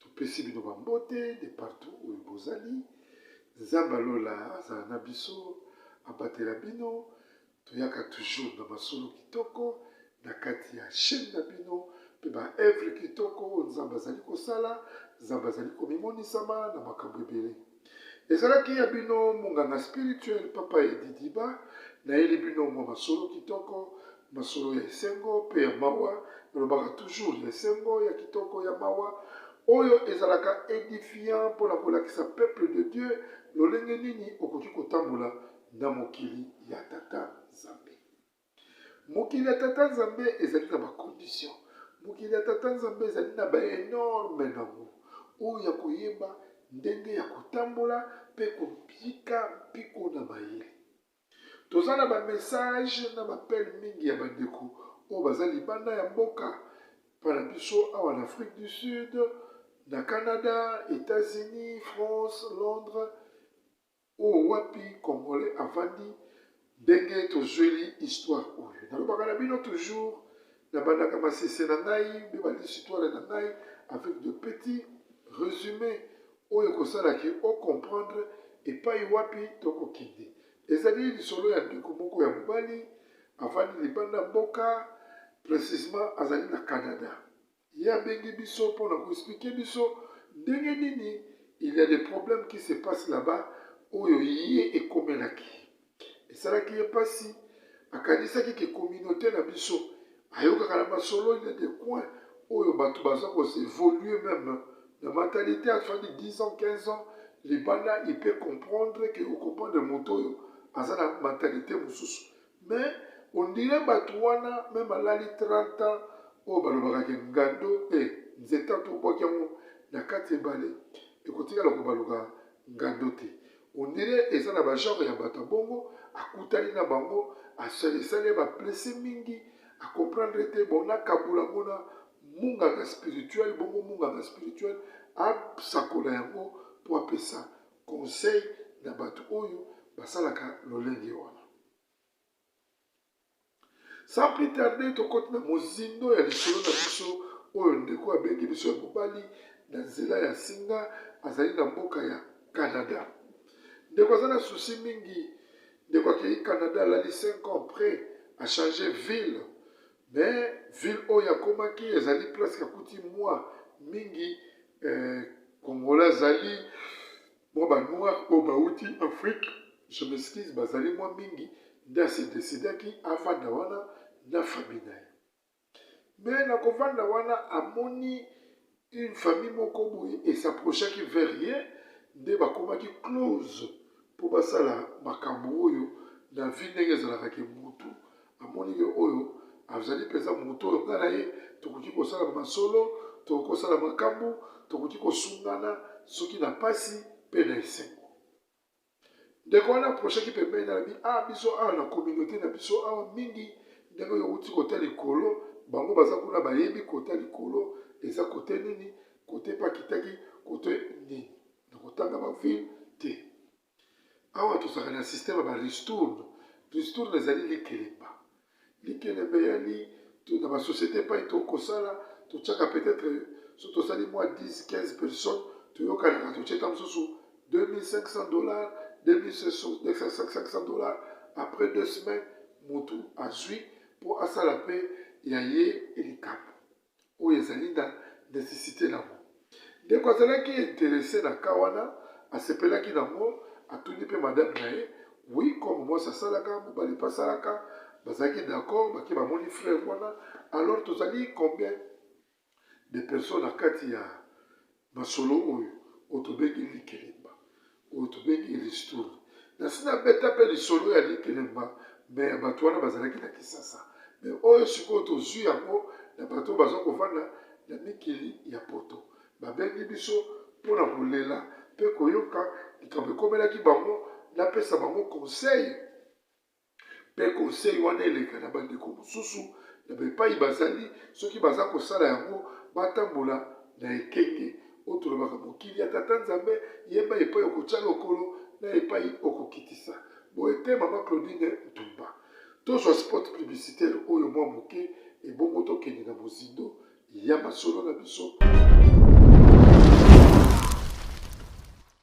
Topesi bino ba mbote de partout oyo bozali. Nzambe ya lola azala na biso, abatela bino. Toyaka toujours na masolo kitoko na kati ya chaîne na bino mpe ba œuvre kitoko oyo Nzambe azali kosala, Nzambe azali komimonisama na makambo ebele. Ezalaki ya bino monganga spirituel Papa Edidiba, nayeli bino mwa masolo kitoko, masolo ya esengo mpe ya mawa, nalobaka toujours ya esengo, ya kitoko, ya mawa, oyo ezalaka edifiant mpo na kolakisa peuple de Dieu lolenge nini okoki kotambola na mokili ya Tata Nzambe. mokili ya tata nzambe ezali na bakondition mokili ya tata nzambe ezali na baenorme nango oyo ya koyeba ndenge ya kotambola mpe kopika mpiko na mayele toza na bamessage na bapele mingi ya bandeko oyo baza libanda ya mboka mpona biso awa na afrique du sud na canada états-unis france londres Oyo wapi congolais avandi ndenge tozueli histoire oyo nalobaka na bino toujours na bandaka masese na ngai nde ba lisitwale na ngai avec de petit resume oyo ekosala ke o comprendre epai wapi tokokende ezali lisolo ya ndeko moko ya mobali avandi libanda mboka precisement azali na canada Ye abengi biso pona ko expliquer biso ndenge nini il ya des problèmes qui se passe là-bas oyo ye ekomelaki esalaki ye pasi akanisaki ke communaute na biso ayokaka na masolo il ya des coins oyo bato baza ko s'evoluer meme na mentalité afandi 10 ans 15 ans libanda il peut comprendre ke o comprendre moto oyo aza na mentalité mosusu Mais on dirait batu wana meme balali 30 ans oyo balobaka ke ngando e eh, nzeta tobwaki yango na kati ebale ekotikala kobaluka ngando te on dirait eza na bagenre ya bato ya bongo akutani na bango asalisali ye baplese mingi acomprendre te bona kabula yango na munganga spirituel bongo munganga spirituel asakola yango mpo apesa conseil na bato oyo basalaka lolenge wana sans plus tarder tokoti na mozindo ya lisolo na biso oyo ndeko abengi biso ya mobali na nzela ya singa azali na mboka ya canada ndeko aza na susi mingi ndeko akei canada alali 5 ans près achange ville mais ville oyo akomaki ezali presque akuti mwa mingi eh, kongola azali Mwa ba noirs oyo bawuti Afrique, je m'excuse, bazali mwa mingi, nde a se decidaki avanda wana na famille na ye. Mais na kovanda wana amoni une famille moko boye e s'approchaki vers ye, nde bakomaki close mpo basala makambo oyo na vie ndenge ezalaka ke mutu Namoni ye oyo azali mpenza moto oyo ngai na ye tokoki kosala masolo, tokoki kosala makambo, tokoki kosungana soki na mpasi mpe na esengo. Ndeko wana aprochaki pembeni na bi a ah, biso awa na communauté na biso awa mingi ndenge oyo outi kota likolo bango baza kuna bayebi kota likolo eza kote nini kote mpe akitaki kote nini na kotanga bavile te Awa tozalaka na système ya ba ristourne. Ristourne ezali likelemba. Likelemba eyali na ba société epai tokoki kosala, totyaka peut-être soki tosali mwa 10 15 personnes, toyokanaka totye ntango mosusu 2500 dollars, 2500 dollars après deux semaines motu azwi mpo asala mpe ya ye likambo. oyo ezali na necessite nango. Ndeko azalaki interesse na cas wana, asepelaki nango, atuni pe madame na ye, oui comme mwasi asalaka, mobali pe asalaka, bazalaki d'accord, bake bamoni fleuve wana, alors tozali combien de personnes na kati ya Masolo oyo oyo tobengi likelemba oyo tobengi ristourne nasi nabeta mpe lisolo ya likelemba me ya bato wana bazalaki na kisasa me oyo sikoyo tozwi yango na bato oyo baza kovanda na mikili ya poto babengi biso mpo na kolela mpe koyoka likambo ekomelaki bango napesa bango conseil mpe konsei wana eleka na bandeko mosusu na bepai bazali, soki baza kosala yango, batambola na ekenge oyo tolobaka mokili ya Tata Nzambe, yeba epai okotya lokolo na epai okokitisa. Boye te, Mama Claudine Ntumba? Tozwa spot publicitaire oyo mwa moke, ebongo tokende na mozindo ya masolo na biso.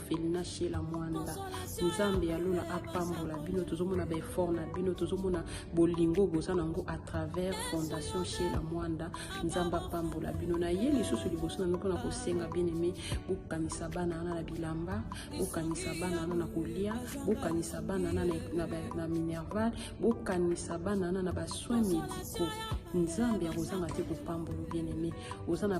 felina shela mwanda nzambe ya lola apambola bino tozomona baeffort na bino tozomona bolingo boza na yango à travers fondation shela mwanda nzambe apambola bino na ye lisusu liboso na bino mpona kosenga bien aime bokanisa bana wana na bilamba bokanisa bana wana na kolia bokanisa bana wana na minerval bokanisa bana wana na basoin médicaux nzambe akozanga te kopambola bien aime oza na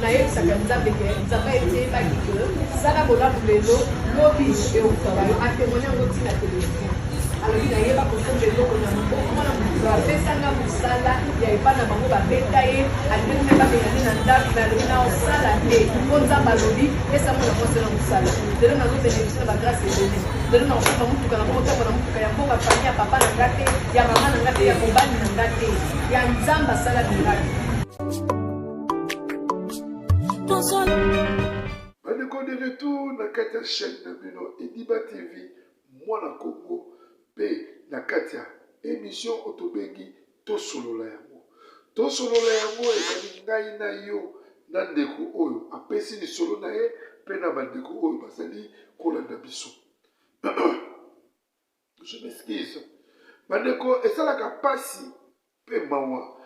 nayebisaka nzambe ke nzambe ayebaki ke sala bolamu lelo lobi eokutaka yo atemone yango ntina televizio alobi nayeba kosomba eloko na mokomona moto apesanga mosala ya epa na bango babeta ye alingi mpe babengani na ndako me alobi na osala te mpo nzambe alobi pesango na mwasi na mosala lelo nazobenefisi na bagrase ebele lelo nakosomba motuka na moko ntango na motuka ya mboka fami ya papa na nga te ya mama na nga te ya mobali na nga te ya nzambe asala miraki bandeko de retour na kati ya chaîne na bino ediba tv mwana kongo mpe na kati ya émission oyo tobengi tosolola yango tosolola yango ezali ngai na yo na ndeko oyo apesi lisolo na ye mpe na bandeko oyo bazali kolanda biso Je m'excuse. Bandeko esalaka pasi pe mawa.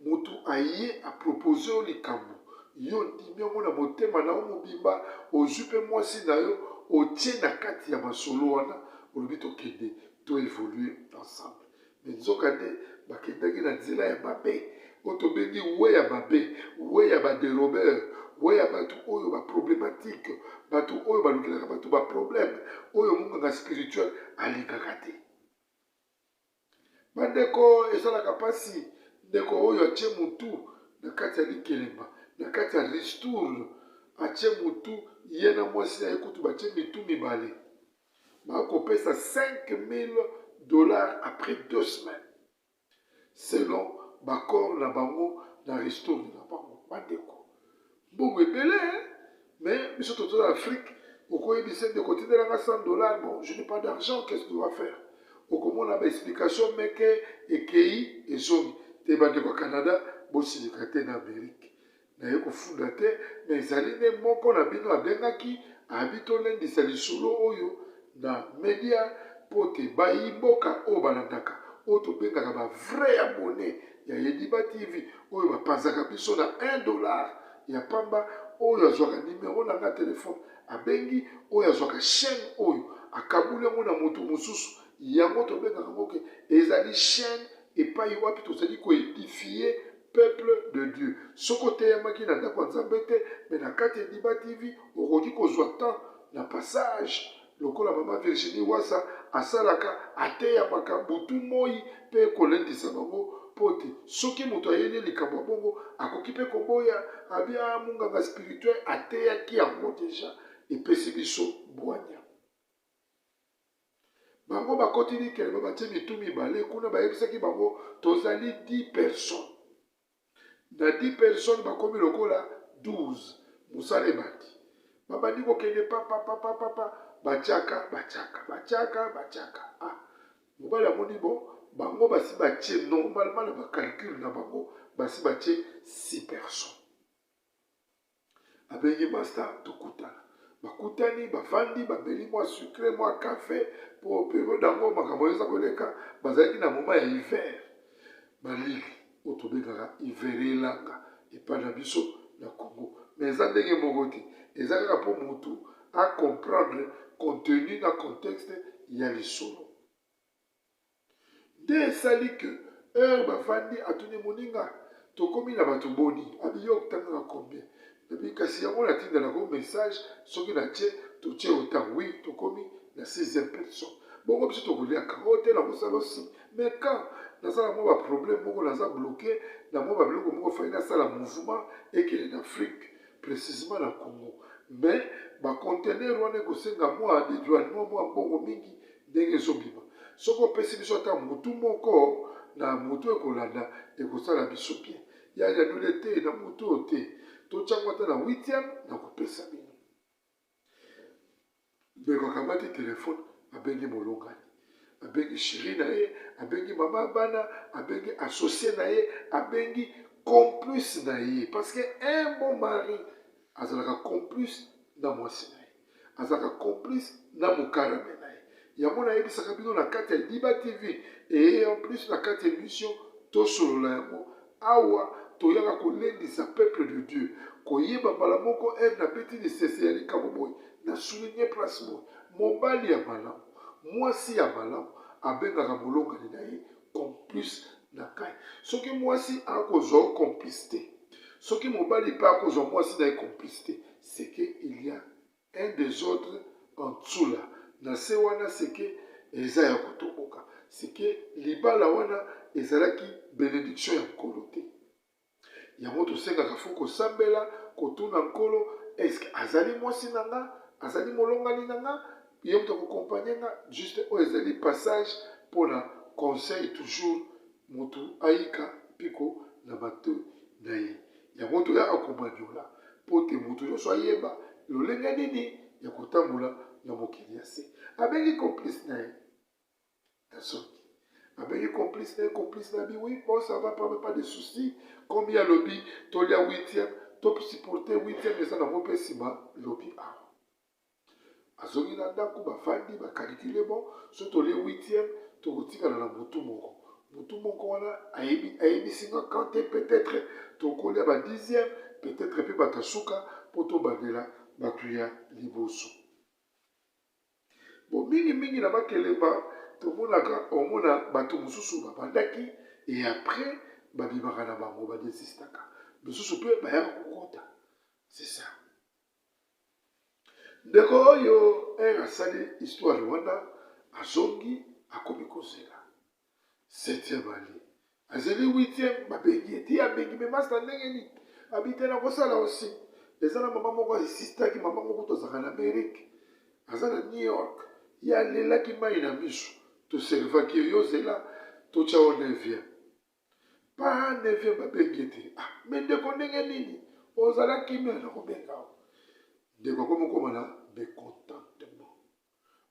Mutu aye a propose yo likambo, yo ondimi yango na motema na yo mobimba, ozwi pe mwasi na yo otie na kati ya masolo wana, olobi tokende to evoluer ensemble. Mais nzoka nde bakendaki na nzela ya mabe, oyo tobengi we ya mabe we ya baderobeur we ya bato oyo baproblematike bato oyo balukelaka bato baproblème oyo monganga spirituel alingaka te bandeko esalaka mpasi ndeko oyo atye motu na kati ya likelemba na kati ya ristourne atye motu ye na mwasi na ye kutu batye mitu mibale bakopesa 5000 dollars après deux semaines selon ba corps na bango na restaurer na bango ba ndeko mbongo ebele hein mais biso toza na Afrique okoyebisa ndeko tindela nga 100 dollars bon je n'ai pas d'argent qu'est-ce que tu vas faire okomona ba explication meke ekei ezongi te bandeko ya Canada bosilika te na Amerique naye kofuda te mais ezali nde moko na bino abengaki abi tolendisa lisolo oyo na media mpo te bayi mboka oyo balandaka oyo tobengaka ba vrai abonne ya yediba tv oyo bapanzaka biso na 1 dollar ya pamba oyo azwaka nimero na nga telefone abengi oyo azwaka chaîne oyo akabuli yango na moto mosusu yango tobengaka yango ke ezali chaîne epai wapi tozali koedifie peuple de dieu soki oteyamaki na ndako ya nzambe te me na kati ya diba tv okoki kozwa temps na passage lokola mama virginie wasa asalaka ateyamaka butu moi mpe kolendisa bango mpo te soki moto ayeli likambo ya bongo akoki mpe koboya abia ah, monganga spirituel ateyaki yango deja epesi biso bwanya Bango bakoti Nikelema, batie mitu mibale kuna, bayebisaki bango tozali 10 personnes. Na 10 personnes bakomi lokola 12. Mosala ebandi, babandi kokende papapapapapa, batiaka batiaka batiaka batiaka. Ah, mobali amoni bo bango basi batie normalement na bacalcule na bango basi batie 6 personnes. Abengi ba stars tokutana. Bakutani, bafandi, bameli mwa sucre, mwa cafe, po periode yango makambo eza koleka, bazalaki na moment ya hiver. Malili oyo tobengaka hiver elanga epai na biso na Congo. Mais eza ndenge moko te, eza kaka po mutu a comprendre contenu na contexte ya lisolo. Nde esali que heure bavandi atuni muninga tokomi na batu boni abi yo otangaka combien epuis kasi yango natindela ko message soki na tie totie otang oui tokomi na sixième person bongo biso tokoliaka o te na kosala osi mais quand naza na mwa ba problème moko naza bloqué na mwa ba biloko moko fai nasala mouvement ekele na afrique précisement na congo mais bacontener wana ekosenga mwa dedouanement mwa mbongo mingi ndenge ezobima soki opesi biso ata mutu moko na mutu ekolanda ekosala biso bien ya yadule te na mutu oyo te totyango ata na huitième na kopesa bino ndeko akamati telefone abengi molongani abengi sheri na ye abengi mama ya bana abengi associe na ye abengi complice na ye parce que un bon mari azalaka complice na mwasi na ye azalaka complice na mokarame na ye yango nayebisaka bino na kati ya diba tv eye en plus na kati ya émission tosolola yango awa toyaka kolendisa peuple de dieu koyeba mbala moko ere nabeti lisese ya likambo boye na souligne place boye mobali ya malamu mwasi ya malamu abengaka molongani na ye complice na ngai soki mwasi akozwa yo complice te soki mobali mpe akozwa mwasi na ye complice te seke il y a un desordre en dessous là na se wana seke eza ya kotoboka seke libala wana ezalaki benediction ya nkolo te yango tosengaka fo kosambela kotuna nkolo eske azali mwasi na nga azali molongani na nga ye moto akokompagne nga juste oyo ezali passage mpo na conseil toujours motu ayika mpiko na bato na ye yango toyaka komanyola mpo te motu nyonso ayeba lolenge nini ya kotambola na mokili ya se abengi complice na ye nazoki abengi complice na complice na bi oui bon ça va pas pas de souci comme ya lobi tolia huitième to supporter huitième eza nango mpe nsima lobi awa azongi na ndako bafandi bakalikile bon so tolie huitième tokotikala na butu moko butu moko wana ayebisi nga kante peut-être tokolia ba dixième peut-être mpe bato ya suka mpo tobandela bato ya liboso Bon, mingi mingi na makelemba tomonaka omona bato mosusu babandaki e après babimaka na bango badesistaka misusu mpe bayaka kokota c'est ça ndeko oyo ere asali histoire wana azongi akomi kozela Septième ali azali huitième babengi ye ti abengi me masta ndenge nini abite na kosala aussi eza na mama moko asistaki mama moko tozalaka na amerike aza na new york ye alelaki mai na miso toservaki ye yo zela totya o neuvième pa neuvième babengi ye te ah, me ndeko ndenge nini ozalaki me na kobenga ndeko akomi okoma na mecontentement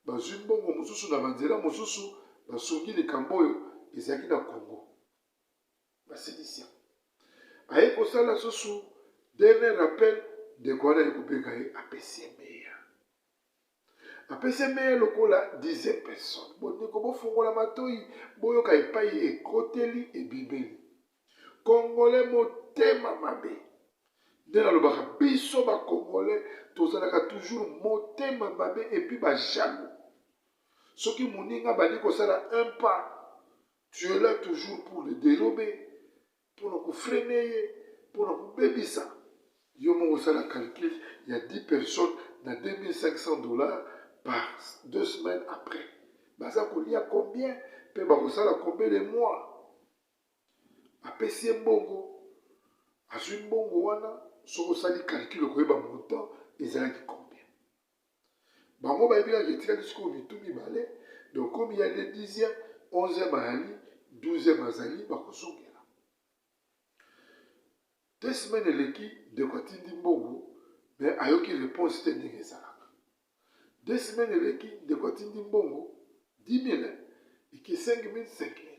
bazwi mbongo mosusu na banzela mosusu, basungi likambo oyo ezalaki na Congo. Basilisi yango. Aye kosala susu dernier rappel, ndeko wana aye kobenga ye apesi ye meya. Apesi ye meya lokola dixième personne. Bondeko bofungola matoi, boyoka epai ekoteli ebimeli. congolais motema mabe nde nalobaka biso bacongolais tozalaka toujours motema mabe epuis bajaloux soki moninga abandi kosala un pas tu es là toujours pour le dérober mpona kofrene ye mpona kobebisa yo moko osala calcul ya 10 personnes na 2500 dollars par deux semaines après baza kolia combien mpe bakosala combien de mois apesi ye mbongo azwi mbongo wana soki osali calcule koyeba montant ezalaki combien bango bayebi kaka etikaki sikoyo mitu mibale donc komi ya nde 10e 11e ayali 12e azali bakozongela te semaine eleki ndeko atindi mbongo me ayoki reponse te ndenge ezalaka Deux semaines eleki ndeko atindi mbongo 10000 eke 5000 5000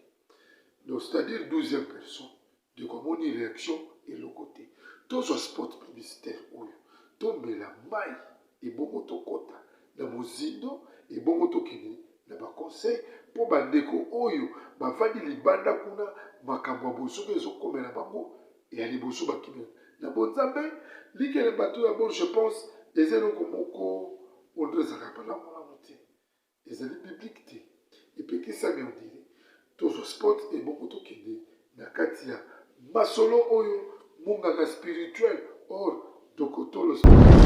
donc c'est à dire 12e personne ndeko amoni réaction eloko te tozwa spot publicitaire oyo tombela mai ebongo tokɔta na mozindo ebongo tokende na baconseil mpo bandeko oyo bavandi libanda kuna makambo ya bozoba ezokomela bango ya liboso bakimi na bonzambe likele bato ya bon je pense eza eloko moko oyo ezalaka malamu malamu te ezali biblike te epekisami ondire tozwa sport ebongo tokende na kati ya masolo oyo monganga spirituel or dokotolo spirituel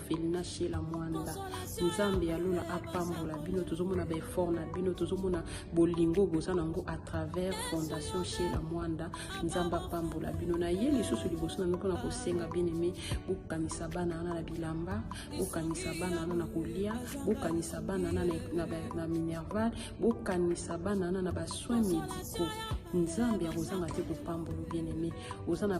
felina shela mwanda nzambe ya lola apambola bino tozomona baeffort na bino tozomona bolingo boza na yango à travers fondation shela mwanda nzambe apambola bino na ye lisusu liboso na bino mpona kosenga bien aime bokanisa bana wana na bilamba bokanisa bana wana na kolia bokanisa bana wana na minerval bokanisa bana wana na basoin médicaux nzambe akozanga te kopambola bien aime oza na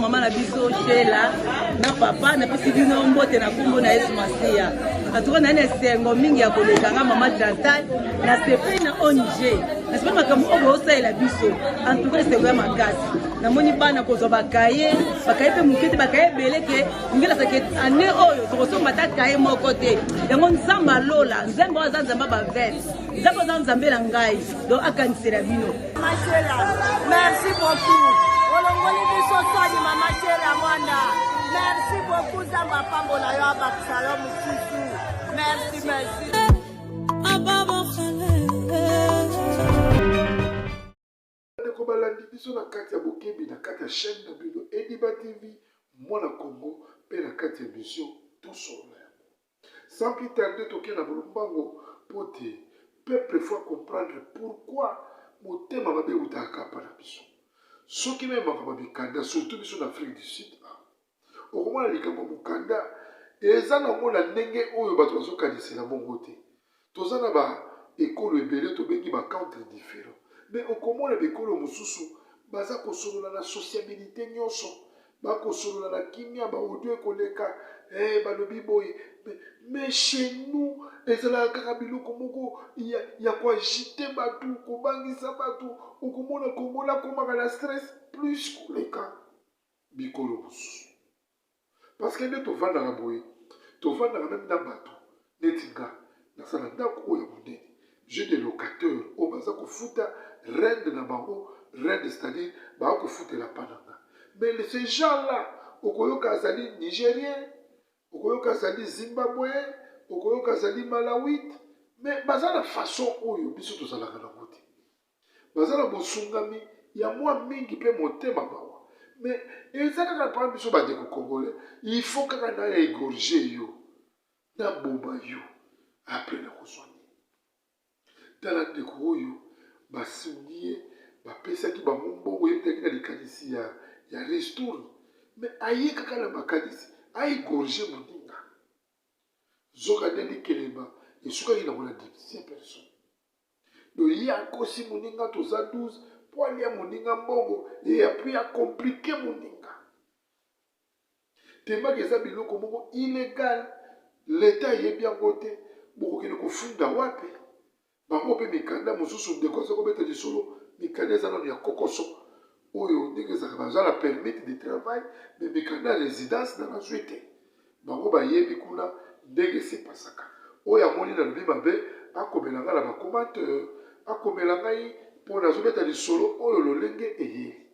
mama na biso shela na papa napesi bino mbote na nkombo na yesu masiya atuka nayani esengo mingi ya koleka nga mama chantal nasepeli na ong nasepeli makambo oyo boosalela biso antuka esengo ya makasi namoni bana kozwa bakaye bakaye mpe moke te bakaye ebele ke ngela seke ane oyo tokosomba ata kaye moko te yango nzambe alola nzambe oyo aza nzambe bavete nzambe oza nzambe na ngai donc akanisela bino mashela merci beaucoup olongoli biso soni mama shela mwanda merci beaucoup nzambe apambola yo abakisa yo mosusu merci merci bandeko balandi biso na kati ya bokebi na kati ya chaîne na bino ediba tv mwana congo mpe na kati ya mission tosolola yango sans plus tarde toke na bolombango mpo te peuple faut comprendre pourquoi motema mabe eutaka kapa na biso soki meme makambo ya mikanda surtout biso na afrique du sud okomona likambo mokanda eza nango na ndenge oyo bato bazokanisela bongo te toza na ba ekolo ebele tobengi ba country different me okomona bikolo mosusu baza kosolola na sociabilité nyonso bakosolola na kimia baodio ekoleka hey, eh, balobi boye me chez nous ezalaka kaka biloko moko ya, ya koagite bato kobangisa bato okomona kongola akomaka na stress plus koleka bikolo mosusu parceke nde tovandaka boye tovandaka meme na bato neti nga naza na ndako oyo ya monene jeu de locateur oyo baza kofuta rende na bango rende c'est-à-dire baa kofutela pa na nga mais ce genre là okoyoka azali nigérien okoyoka azali zimbabween okoyoka azali malawite mais baza na façon oyo biso tozalaka nango te baza na bosungami ya mwa mingi mpe motema mawa me eza kaka mpona biso bandeko congolais il faut kaka na egorge yo naboma yo apre nakozwa nini tala ndeko oyo basungi ye bapesaki bango mbongo yebitaki na likanisi ya, ya restour me aye kaka na makanisi aegorge moninga zoka ndeni kelema esukaki nango na dipsia personne donc ye akosi moninga toza 12 mpo alia moninga mbongo ye apui akomplike moninga tembaka eza biloko moko ilegal leta ayebi yango te bokokende kofunda wapi bango mpe mikanda mosusu ndeko aza kobeta lisolo mikanda eza nano ya kokoso oyo ndenge ezalaka naza na permit de travail me mikanda ya résidence na nazwi te bango bayebi kuna ndenge esepasaka oyo amoni nalobi mabe akomela ngai na bacomateur akomela ngai mpo nazobeta lisolo oyo lolenge eyeli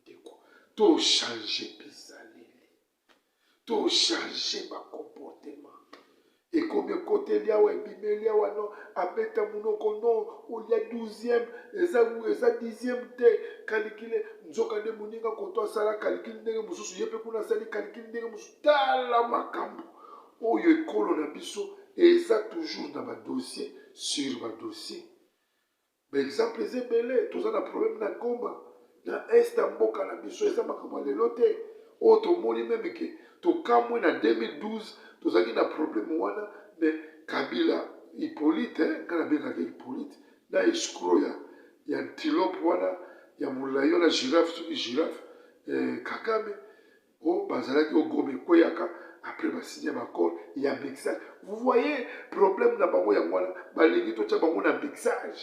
ndeko tochange bizaleli To changer ba comportement. Ekomi ekoteli awa ebimeli awa non abeta munoko non olia 12e eza eza 10e te calcule nzoka nde moninga koto asala calcule ndenge mosusu ye mpe kuna asali calcule ndenge mosusu tala makambo oyo ekolo na biso eza toujours na badossier sur badossier ba exemple eza ebele toza na problème na goma na est ya mboka na biso eza makambo ya lelo te oyo oh, tomoni meme ke tokamwe na 2012 tozalaki na problème wana mais kabila hippolyte eh, ngai nabengaka hippolyte na escro ya ya antilope wana ya molai wana girafe soki girafe eh, kagame oh bazalaki au goma ekweyaka après basigne baccord ya mixage vous voyez problème na bango yango wana balingi totya bango na mixage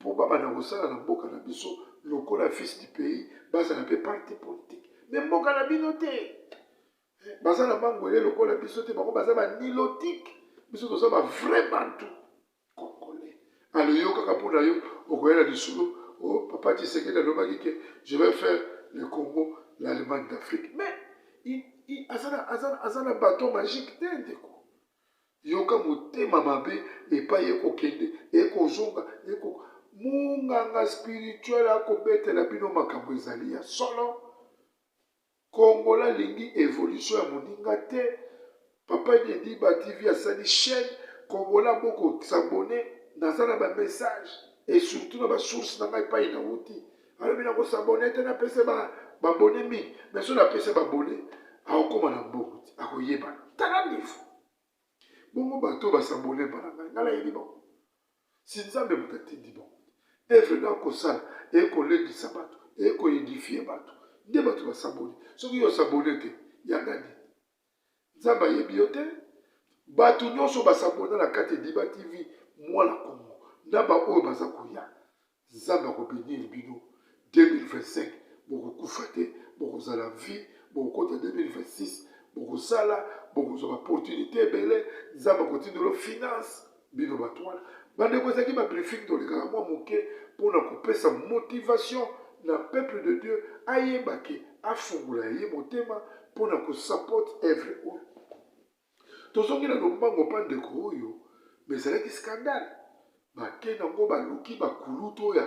mpo babanda kosala na mboka na biso lokola fils du pays bazala mpe parti politique me mboka na bino te baza na mangwele lokola biso te bango baza banilotike biso toza bavrai bantu congolais alo yo kaka mpo na yo okoya na lisolo o oh, papa tshisekedi alobaki ke je vais faire le congo l'allemagne d'afrique mais aza na baton magique te ndeko yoka motema mabe epai ekokende ekozonga eko monganga spirituel akobetela bino makambo ezali ya solo Congolais alingi evolution ya moninga te. Papa Nyedi ba TV asali chaîne Congolais boko s'abonner naza na ba message et surtout na ba source na ngai epai nawuti alobi na ko s'abonner te napesa ba babone mingi mais soki napesa babone akokoma na mbongo te akoyebana tala niveau bongo bato oyo basabone epa na ngai ngai nayebi bango si nzambe moto atindi bango te evre na kosala eye kolendisa bato eye koedifie bato nde bato basabone soki yo osabone te yanga nini nzambe ayebi yo te bato nyonso basabona na kati ediba tv mwana kongo na baoyo baza koya nzambe akobenir bino 2025 bokokufa te bokozala vie bokokota 2026 bokosala bokozwa baopportunité ebele nzambe akotindolo finance bino bato wana bandeko ezalaki babriefing tolekaka mwa moke mpo na kopesa motivation na peuple de dieu ayeba ke afungola ye motema mpo na kosupport evre oyo Tozongi na lombango pa ndeko oyo mais ezalaki scandale bake nango baluki bakulutu oyo ya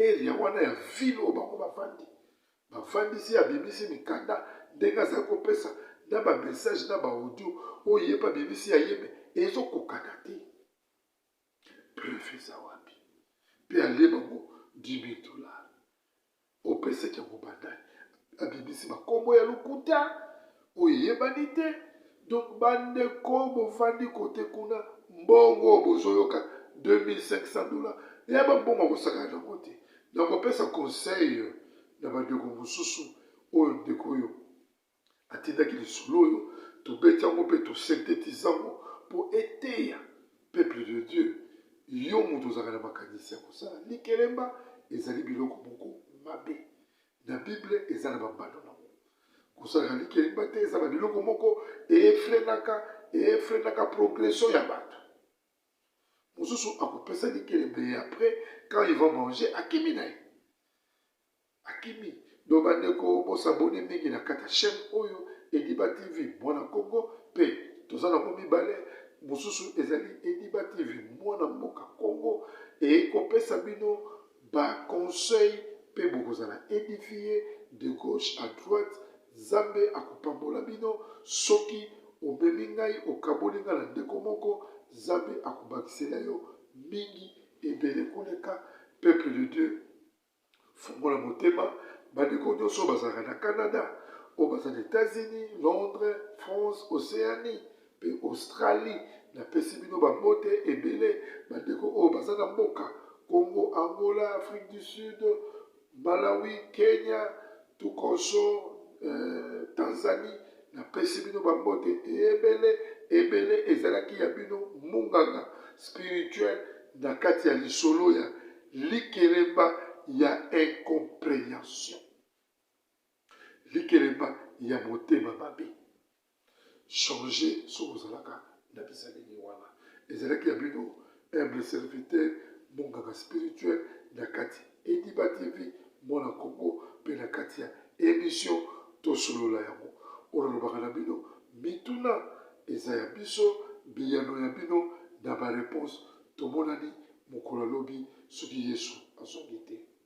area wana ya ville oyo bango bafandi bafandisi abimisi mikanda ndenge azali kopesa na bamessage na baaudio oyo ye mpe abimisi ya ye me ezokokana te preuve eza wapi mpe alie bango 10 000 dollars Opesaki yango ba nani? Abimisi ba kombo ya lokuta oyo eyebani te. Donc ba ndeko bovandi kote kuna mbongo bozoyoka 2500 dollars ya ba mbongo akosakana nango te. Nakopesa conseil na ba ndeko mosusu oyo ndeko oyo Atindaki lisolo oyo tobeti yango mpe tosentetise yango mpo eteya peuple de Dieu. Yo moto ozalaka na makanisi ya kosala likelemba, ezali biloko moko mabe. Na Bible eza na bambano nango. Kosalaka likelemba te eza na biloko moko efrenaka efrenaka progression ya bato. Mosusu akopesa likelemba ye après quand il va manger akimi na ye. akimi donc bandeko bosabone mingi na kata chaîne oyo ediba tv mwana kongo mpe toza nango mibale mosusu ezali ediba tv mwana mboka kongo ekopesa bino baconseil mpe bokozala edifie de gauche à droite nzambe akopambola bino soki omemi ngai okaboli ngai na ndeko moko nzambe akobakisela yo mingi ebele koleka peuple de dieu Fungola motema, bandeko nyonso oyo bazalaka na Canada, oyo baza na Etats-Unis, Londres, France, Oceanie mpe Australie. Napesi bino bambote ebele, bandeko oyo baza na mboka Congo, Angola, Afrique du Sud, Malawi, Kenya, Tukoso eh, Tanzanie napesi bino bambote ebele ebele ezalaki ya bino munganga spirituel na kati ya lisolo ya likelemba ya incomprehension likelemba ya motema mabe changer soki ozalaka na bizaleli wana ezalaki ya bino humble serviteur monganga spirituel na kati ediba tv mwana kongo mpe na kati ya emission tosolola yango oyo nalobaka na bino mituna eza ya biso biyano ya bino na bareponse tomonani mokolo alobi soki yesu azongi te